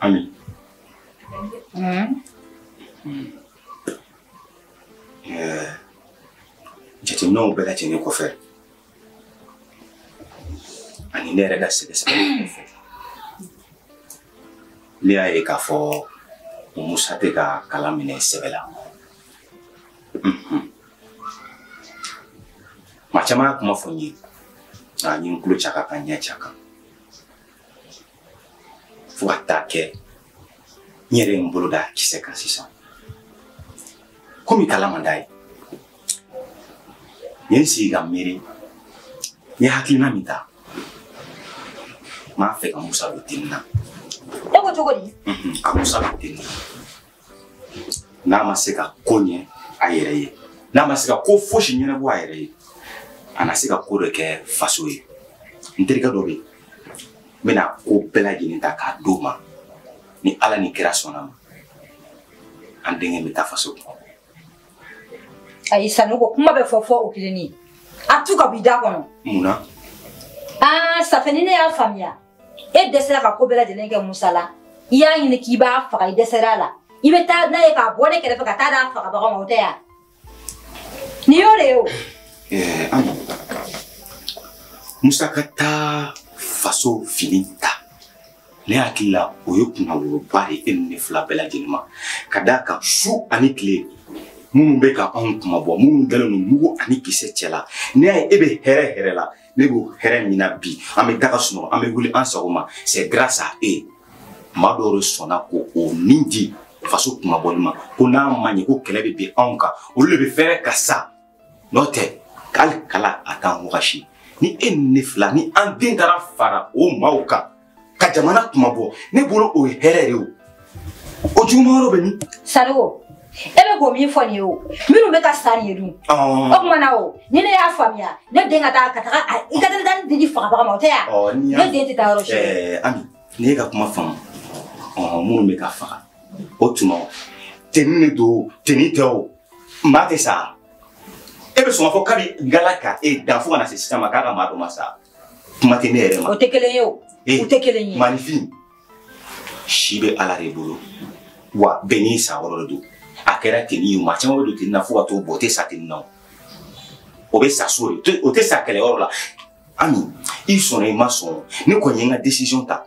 Ami. Hmm? Eh, jateminɛw bɛɛ lajɛlen kɔfɛ ani ne yɛrɛ ka sɛgɛsɛgɛli kɔfɛ ne y'a ye k'a fɔ musa tɛ ka kalan minɛ sɛbɛ la mhm. maa caman y'a kuma fɔ n ye nka n ye n tulo c'a kan ka n ɲɛ c'a kan fo ka taa kɛ n yɛrɛ ye n bolo da kisɛ kan sisan komi kalan man d'a ye n ye n sigi ka miiri n ye hakilina min ta n b'a fɛ ka musa don teni na e ko cogo di ka musa don teni na n'a ma se ka ko ɲɛ a yɛrɛ ye n'a ma se ka ko fosi ɲɛnabɔ a yɛrɛ ye a na se ka ko dɔ kɛ faso ye n terikɛ dɔ bɛ yen n bɛna ko bɛɛ lajɛlen ta k'a d'o ma ni ala ni kira sɔnna ma an denkɛ bɛ taa faso kunmabɔ ayi sanogo kuma bɛɛ fɔ fo o kelen nin a tu ka b'i da kɔnɔ mun na aa ça fait ni ne y'a faamuya e dɛsɛra ka ko bɛɛ lajɛlen kɛ musa la i y'a ɲini k'i b'a faga i dɛsɛra a la i bɛ taa n'a ye k'a bɔ ne kɛrɛfɛ ka taa d'a fagabaga ma o tɛ ya nin y'o de ye o ami musa ka taa faso fini ta ne hakili la o ye kunnawoloba de e ni ne fila bɛɛ lajɛlen ma ka d'a kan su ani tile minnu bɛ ka anw kunmabɔ minnu dalen don mugu ani kisɛ cɛ la ne y'a ye e bɛ hɛrɛ hɛrɛ la ne b'o hɛrɛ min na bi an bɛ da ka sunɔgɔ an bɛ wuli an sago ma c'est grâce à eux maa dɔw de sɔnna ko o ni di faso kunmabɔli ma ko n'a ma ɲɛ ko kɛlɛ bɛ bin anw kan olu de bɛ fɛrɛ ka sa n'o tɛ hali kala a t'an wagasi ni e ni ne fila ni an den taara fara o maaw kan ka jamana kunmabɔ ne bolo o ye hɛrɛ de o o juguman yɔrɔ bɛ min sanogo e bɛ ko min fɔ nin ye o minnu bɛ ka sa nin ye dun o tuma na o ni ne y'a faamuya ne den ka taa ka taga a- i ka taa taa ne den di fagabaga ma o tɛ ya Ɔ, n'i y'a- ne den tɛ taa yɔrɔ si Ɛɛ, ami ne y'e ka kuma faamu ɔɔ, minnu bɛ ka faga o tuma o teni de don o, teni tɛ o maa tɛ sa e bɛ sɔn ka fɔ kabi ngala ka e dan fo ka na se sisan ma k'a ka maa dɔ ma sa kuma tɛ ne yɛrɛ ma o tɛ kelen ye o u tɛ kelen ye maaninfin si bɛ ala de bolo wa bɛɛ n'i sayɔrɔ de don a kɛra teni ye maa caman bɛ don teni na fo ka t'o bɔ o tɛ sa teni na o bɛ sa so de o tɛ sa kɛlɛyɔrɔ la ami i sɔnna i ma sɔn ne kɔni ye n ka décision ta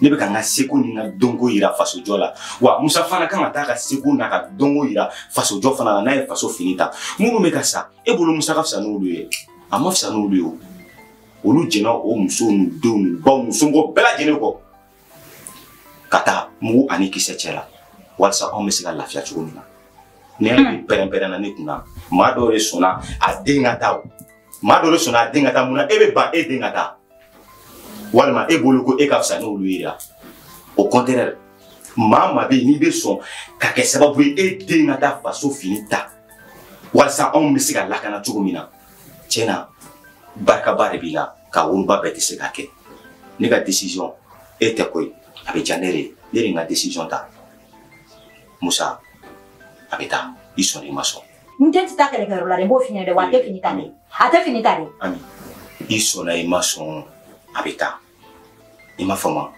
ne bɛ ka n ka seko ni n ka dɔnko yira fasojɔ la wa musa fana kan ka taa ka seko n'a ka dɔnko yira fasojɔ fana la n'a ye faso fini ta minnu bɛ ka sa e bolo musa ka fisa n'olu ye a man fisa n'olu ye o olu jɛnna o musow n'u denw n'u baw n'u somɔgɔw bɛɛ lajɛlen kɔ ka taa mugu ani kisɛ cɛ la walasa anw bɛ se ka lafiya cogo min na ne yɛrɛ bɛ pɛrɛn-pɛrɛn na ne kun na maa dɔw de sɔnna a den ka taa o maa dɔw de sɔnna a den ka taa mun na e bɛ ban e den ka taa walima e bolo ko e ka fisa n'olu ye ya au contraire maa maa bɛ yen n'i bɛ sɔn ka kɛ sababu ye e den ka taa faso fini ta walasa anw bɛ se ka lakana cogo min na tiɲɛ na barikaba de b'i la ka woloba bɛɛ tɛ se k'a kɛ ne ka decision e tɛ koyi a bɛ diya ne de ye ne de ye n ka decision ta musa a bɛ taa i sɔnna i ma sɔn n den tɛ taa kɛlɛkɛyɔrɔ la dɛ n b'o f'i ɲɛna dɛ wa a tɛ fini ta dɛ a tɛ fini ta dɛ. ami i sɔnna i ma sɔn a bɛ taa i ma faamu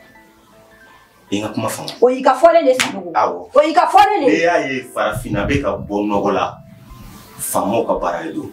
i ka kuma faamu. o y'i ka fɔlen de sanogo. awɔ o y'i ka fɔlen de. n'i y'a ye farafinna bɛ ka bɔ nɔgɔ la faamaw ka baara de don.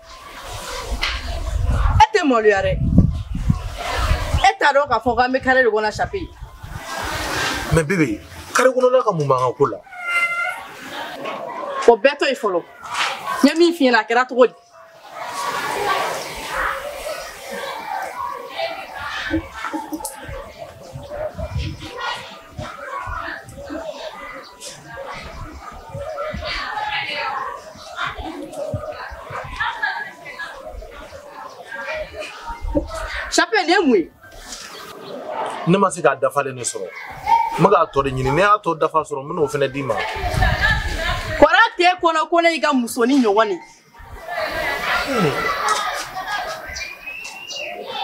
e tɛ maloya dɛ e t'a dɔn k'a fɔ k'an bɛ kare de kɔnɔ sape mais bebe kare kɔnɔla ka mun b'an ka ko la o bɛɛ to yen fɔlɔ n ye min f'i ɲɛna a kɛra cogo di Sape nin ye mun ye ne ma se k'a dafalen de sɔrɔ n bɛ k'a tɔ de ɲini ni n y'a tɔ dafa sɔrɔ n bɛn'o fana d'i ma kɔrɔ t'e kɔnɔ ko ne y'i ka musonin ɲɔgɔn ye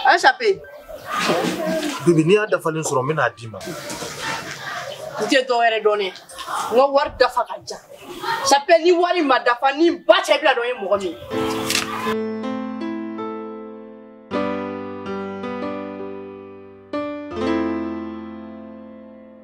An sape bebe ni n y'a dafalen sɔrɔ n bɛna a d'i ma n tɛ dɔ wɛrɛ dɔn ne n ka wari dafa k'a di yan sape ni wari ma dafa ni ba cɛ bɛna dɔn n ye mɔgɔ min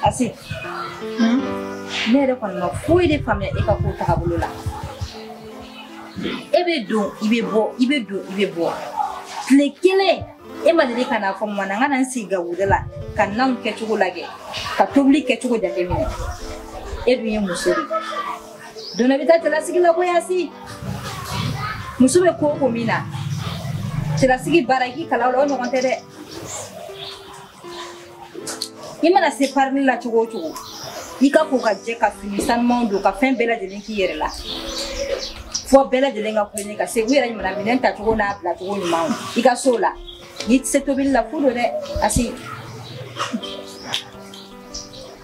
Asi, hmm? ne yɛrɛ kɔni ma foyi de faamuya e ka ko tagabolo la e bɛ don i bɛ bɔ i bɛ don i bɛ bɔ tile kelen e ma deli ka n'a fɔ mama n ka na n sigi gabugu da la ka nanw kɛcogo lajɛ ka tobili kɛcogo jateminɛ e dun ye muso de ye don e bɛ taa cɛlasigi la koyi asi muso bɛ ko o ko min na cɛlasigi baara i k'i kalan o la o ɲɔgɔn tɛ dɛ i mana se parili la cogo o cogo i ka ko ka jɛ ka fini sanumanw don ka fɛn bɛɛ lajɛlen k'i yɛrɛ la fo bɛɛ lajɛlen ka kulonkɛ ka se u yɛrɛ ɲuman minɛn tacogo n'a bilacogo ɲuman i ka so la n'i tɛ se tobili la fu don dɛ asi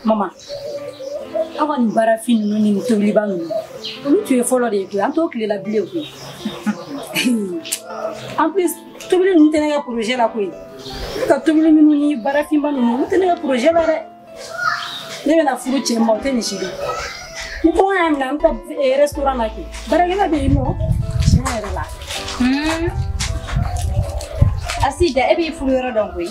mama aw ka nin baarafin ninnu ni nin tobiliba ninnu olu tun ye fɔlɔ de ye koyi an t'o tile la bilen koyi en plus tobili ninnu tɛ ne ka projet la koyi ne ka tobili ninnu ni baarafinba ninnu olu tɛ ne ka projet la dɛ ne bɛna furu cɛ ma o tɛ nin si dɔn ni kɔngɔ y'a minɛ an bɛ taa restaurant na kɛ baarakɛla bɛ yen o tiɲɛ yɛrɛ la asida e b'i furu yɔrɔ dɔn koyi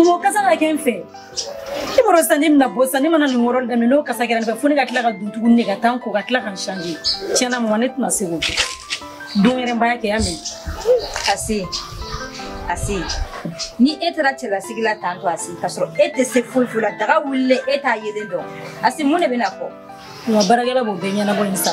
Mugu kasa ka kɛ n fɛ i b'a dɔn sisan ne bɛna bɔ sisan ne mana nin wɔrɔ daminɛ n'o kasa kɛra n fɛ fo ne ka tila ka don tuguni ne ka taa n ko ka tila ka n changer tiɲɛ na mama ne tɛna se k'o kɛ don wɛrɛ n b'a kɛ y'a mɛn Asi Asi ni e taara cɛlasigi la tan to Asi k'a sɔrɔ e tɛ se foyi foyi la daga wulilen e t'a yɛlɛn dɔn Asi mun de bɛna fɔ nka baarakɛla b'o bɛɛ ɲɛnabɔ yen sa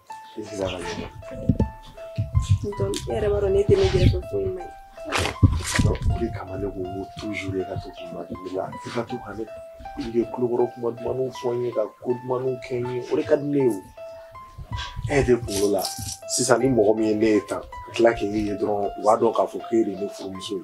I sigi a ka ɲɛ. Donc, e yɛrɛ b'a dɔn ne tɛ ne gɛrɛ fɛn foyi ma ye. Donc, o de kama ne ko n ko toujours e ka to k'i ma deli la. I ka to ka ne i bɛ kulokɔrɔ kuma dumanw fɔ n ye ka ko dumanw kɛ n ye o de ka di ne ye o. E de kunkolo la sisan ni mɔgɔ min ye ne ye tan ka tila k'e ye dɔrɔn u b'a dɔn k'a fɔ k'e de ye ne furumuso ye.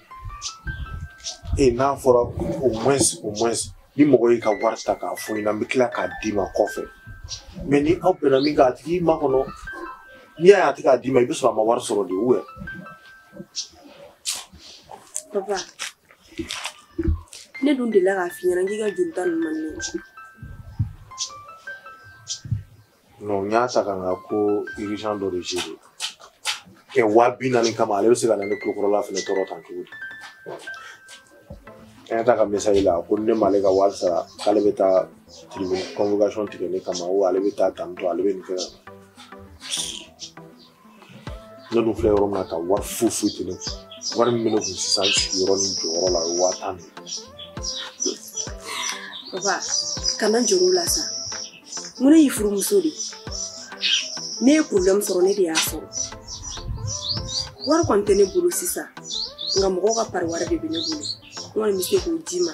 e n'a fɔra au moins au moins ni mɔgɔ y'i ka wari ta k'a fɔ i ɲɛna n bɛ tila k'a d'i ma kɔfɛ mais ni aw bɛnna min kan a tigi makɔnɔ n'i y'a ye a tɛ k'a d'i ma i bɛ sɔrɔ a ma wari sɔrɔ de ou papa ne dun delila k'a f'i ɲɛna k'i ka juruta ninnu man di ne ye non n y'a ta ka n ka ko urgent dɔ de gérer kɛ waa bi naani kama ale bɛ se ka na ne kulokɔrɔla fɛnɛ tɔɔrɔ tan cogo di an y'a ta ka message la ko ne m'ale ka wari sara k'ale bɛ taa tribunal convocation tigɛ ne kama ou ale bɛ taa tantôt ale bɛ nin kɛ ka ne dun filɛ yɔrɔ min na ka wari foyi foyi tɛ ne kun wari min bɛ ne kun sisan sigiyɔrɔ ni jɔyɔrɔ la o ye waa tan de ye. papa kana jɔrɔ o la sa mun ne y'i furumuso de n'e ye problème sɔrɔ ne de y'a sɔrɔ wari kɔni tɛ ne bolo sisan nka mɔgɔw ka pari wari de bɛ ne bolo n kɔni bɛ se k'o d'i ma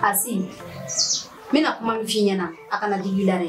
Asi, n bɛna kuma min f'i ɲɛna a kana digi i la dɛ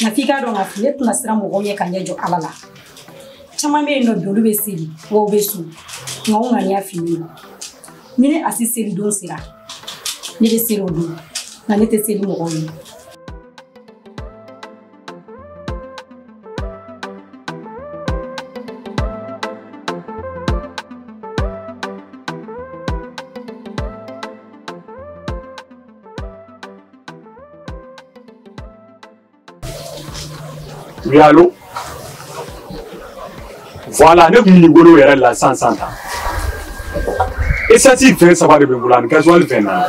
nka f'i k'a dɔn k'a fɔ ne tɛna siran mɔgɔw ɲɛ ka ɲɛ jɔ ala la caman bɛ yen nɔ bi olu bɛ seli wa u bɛ sun nka u ŋaniya finnen don ni ne asi seli don sera ne bɛ seli o don nka ne tɛ seli mɔgɔw ye Oui, allô Voilà, ne kun bolo yɛrɛ la san san ta. Esansi fɛn saba de bɛ n bolo ani gazuwali fɛn naani.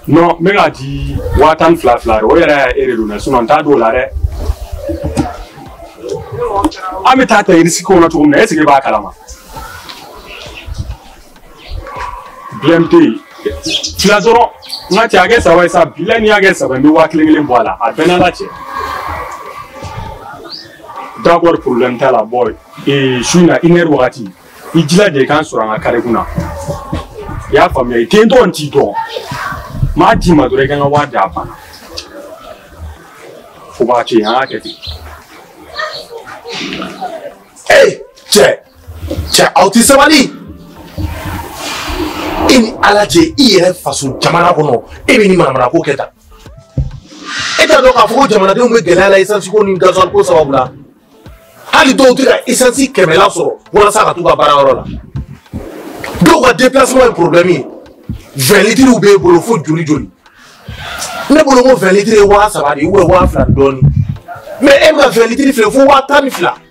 Non, n bɛ k'a di waa tan ni fila fila de o yɛrɛ e de don dɛ sinon n t'a d'o la dɛ. An bɛ taa ta risque kɔnɔ cogo min na est-ce que e b'a kalama? problème tɛ yen fila dɔrɔn n ka cɛ a kɛ saba ye sabula n'i y'a kɛ saba n bɛ waa kelen kelen bɔ a la a bɛɛ n'a la cɛ d'accord problème t'a la bon ee su in na une heure wagati i jilaja i k'an sɔrɔ an ka kare kunna i y'a faamuya i tɛ n dɔn n t'i dɔn m'a d'i ma dɔrɔn i ka n ka wari d'a banna fo b'a to yen an k'a kɛ ten ee cɛ cɛ aw tɛ sabali e ni ala cɛ i yɛrɛ faso jamana kɔnɔ e bɛ nin manamanako kɛ tan e t'a dɔn k'a fɔ ko jamanadenw bɛ gɛlɛya la esansi ko ni gazuwali ko sababu la hali dɔw tɛ ka esansi kɛmɛla sɔrɔ walasa ka t'u ka baara yɔrɔ la dɔw ka déplacement ye problème ye vingt litres b'e bolo fo joli joli ne bolo ko vingt litres ye waa saba de ye ou bien waa fila ni dɔɔni mais e bɛ ka vingt litres feere fo waa tan ni fila.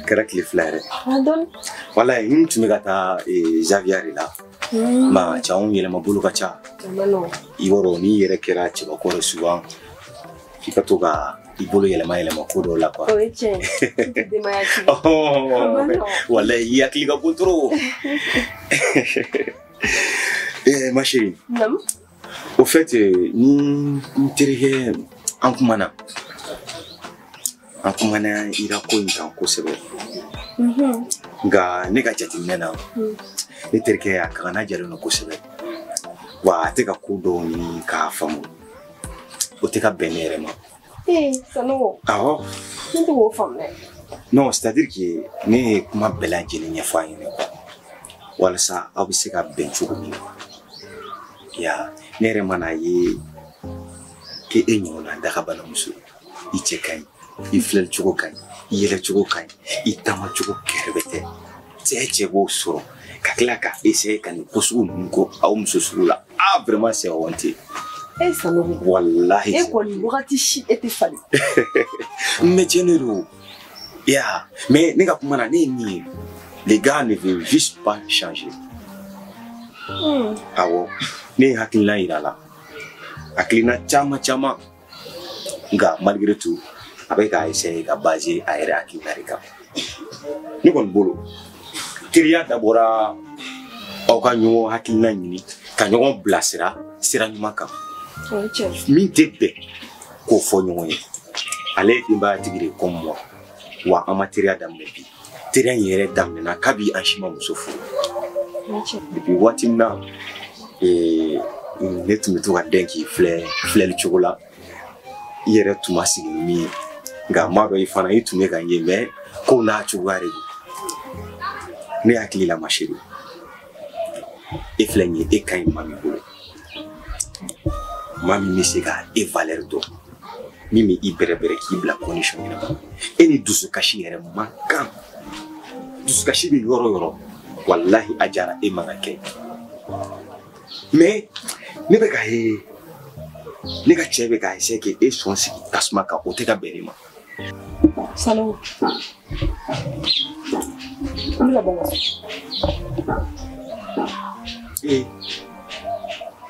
A kɛra tile fila yɛrɛ voilà n tun bɛ ka taa javiya de la ma cɛ anw yɛlɛma bolo ka ca i yɔrɔ n'i yɛrɛ kɛra cɛbakɔrɔ souvent i ka to ka i bolo yɛlɛma yɛlɛma ko dɔw la quoi voilà i hakili ka bon trop eh, ma chérie au fait ni n terikɛ an kumana an kumana ira ko in kan kosɛbɛ mhm. nka ne ka jateminɛ na mm. ne terikɛ a kagana jalen don kosɛbɛ wa a tɛ ka ko dɔw ɲini k'a faamu o tɛ ka bɛn ne yɛrɛ ma Sanogo, awɔ ne tɛ k'o faamu dɛ non c'est à dire que ne ye kuma bɛɛ lajɛlen ɲɛfɔ a ɲɛna walasa aw bɛ se ka bɛn cogo min na ya ne yɛrɛ mana ye k'e e ɲɔgɔnna dagabana muso ye i cɛ ka ɲi i filɛli cogo ka ɲi i yɛlɛ cogo ka ɲi i taama cogo kɛrɛbɛtɛ cɛ cɛ b'o sɔrɔ ka tila ka essayer ka nin ko sugu ninnu kɛ aw muso sugu la ah vraiment c'est honteux Sanogo walahi e kɔni wagati si e tɛ falen mais cɛ de don ya mais ne ka kuma na ne ye min ye le gars ne veut juste pas changer awɔ ne ye hakilina yira a la hakilina caman caman nka malgré tout a bɛ ka essayer ka baser a yɛrɛ hakilina de kan ne kɔni bolo teriya dabɔra aw ka ɲɔgɔn hakilina ɲini ka ɲɔgɔn bilasira sira ɲuman kan min tɛ bɛn k'o fɔ ɲɔgɔn ye ale ye denbayatigi de ye comme moi wa an ma teriya daminɛ bi teriya in yɛrɛ daminɛna kabi an si ma muso furu depuis waati min na eh, ne tun bɛ to ka dɛn k'i filɛ filɛli cogo la i yɛrɛ tun ma sigi ni min ye nka n b'a dɔn i fana i tun bɛ ka n ye mais kow n'a cogoya de don ne hakili la ma chérie e filɛ nin ye e ka ɲi maa min bolo maa min bɛ se ka e valeur dɔn min bɛ i bɛrɛbɛrɛ k'i bila condition ɲɛnama e ni dusukasi yɛrɛ man kan dusukasi bɛ yɔrɔ yɔrɔ walahi Ajara e man ka kɛ mais ne bɛ k'a ye ne ka cɛ bɛ ka essayer k'e sɔn sigi tasuma kan o tɛ ka bɛn ne ma Sanogo. N'i ka bɔ. Ee,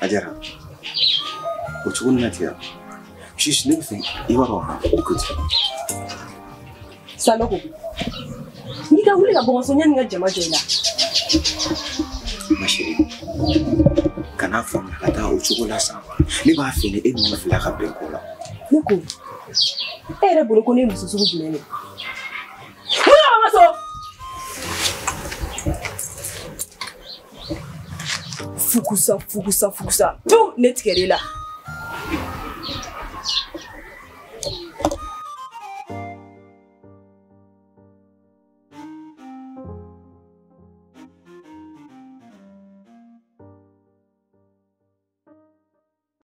Ajara. O cogo nin na ten. Juste ne b'a fɛ i b'a dɔn écoute. Sanogo. N'i ka wuli ka bɔ n ka so yanni n ka jama jɔ i la. Ma chérie, kan'a faamuya ka taa o cogo la sa. Ne b'a fɛ ni e ni ne fila ka bɛn ko la. Ne ko e yɛrɛ bolo ko ne ye muso sugu jumɛn de ye mun na ma so fukusa fukusa fukusa tu ne tigɛra i la